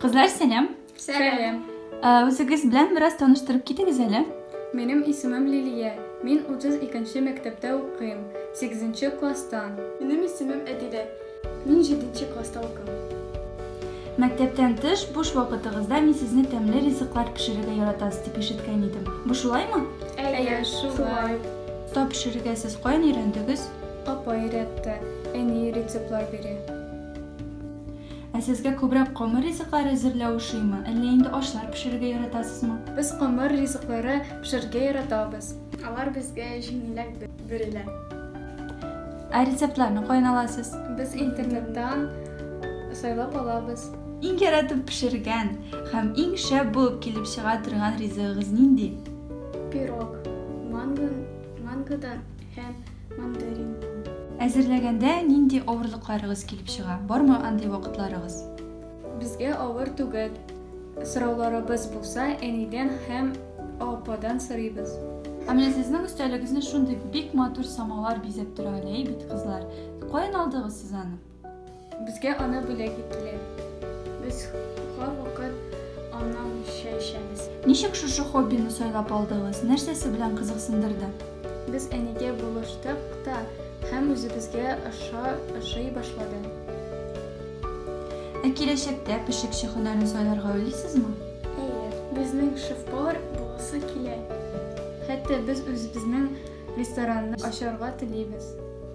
Кызлар, сәлам. Сәлам. Үзегез белән бераз таныштырып китегез әле. Минем исемем Лилия. Мин 32-нче мәктәптә укыйм. 8-нче класста. Минем исемем Әдилә. Мин 7-нче класста укыйм. Мәктәптән тыш буш вакытыгызда мин сезне тәмле ризыклар пешерергә яратасыз дип ишеткән идем. Бу шулаймы? Әйе, шулай. Тап пешерергә сез каян өйрәндегез? Апа өйрәтте. Әни рецептлар бирә. Ә сезгә күбрәк камыр ризыклар әзерләү ошыймы, әллә инде ашлар пешерергә яратасызмы? Без камыр ризыклары пешерергә яратабыз. Алар безгә җиңелрәк бирелә. Ә рецептларны каян аласыз? Без интернеттан сайлап алабыз. Иң яратып пешергән һәм иң шәп булып килеп чыга торган ризыгыгыз нинди? Пирог. Манго, мангодан һәм мандаринның. Әзерләгәндә нинди авырлыкларыгыз килеп чыга? Бармы андый вакытларыгыз? Безгә авыр түгел. Сорауларыбыз булса, әнидән һәм ападан сорыйбыз. Ә менә сезнең өстәлегезне шундый бик матур самалар бизәп тора әле, әй бит, кызлар. Каян алдыгыз сез аны? Безгә аны бүләк иттеләр. Без һәрвакыт аннан чәй эчәбез. Ничек шушы хоббины сайлап алдыгыз? Нәрсәсе белән кызыксындырды? Без әнигә булыштык та һәм үзебезгә аша ашый башлады. Ә киләчәктә пешекче һөнәрен сайларга уйлыйсызмы? Әйе, безнең шеф-повар буласы килә. Хәтта без үзебезнең ресторанны ачарга телибез.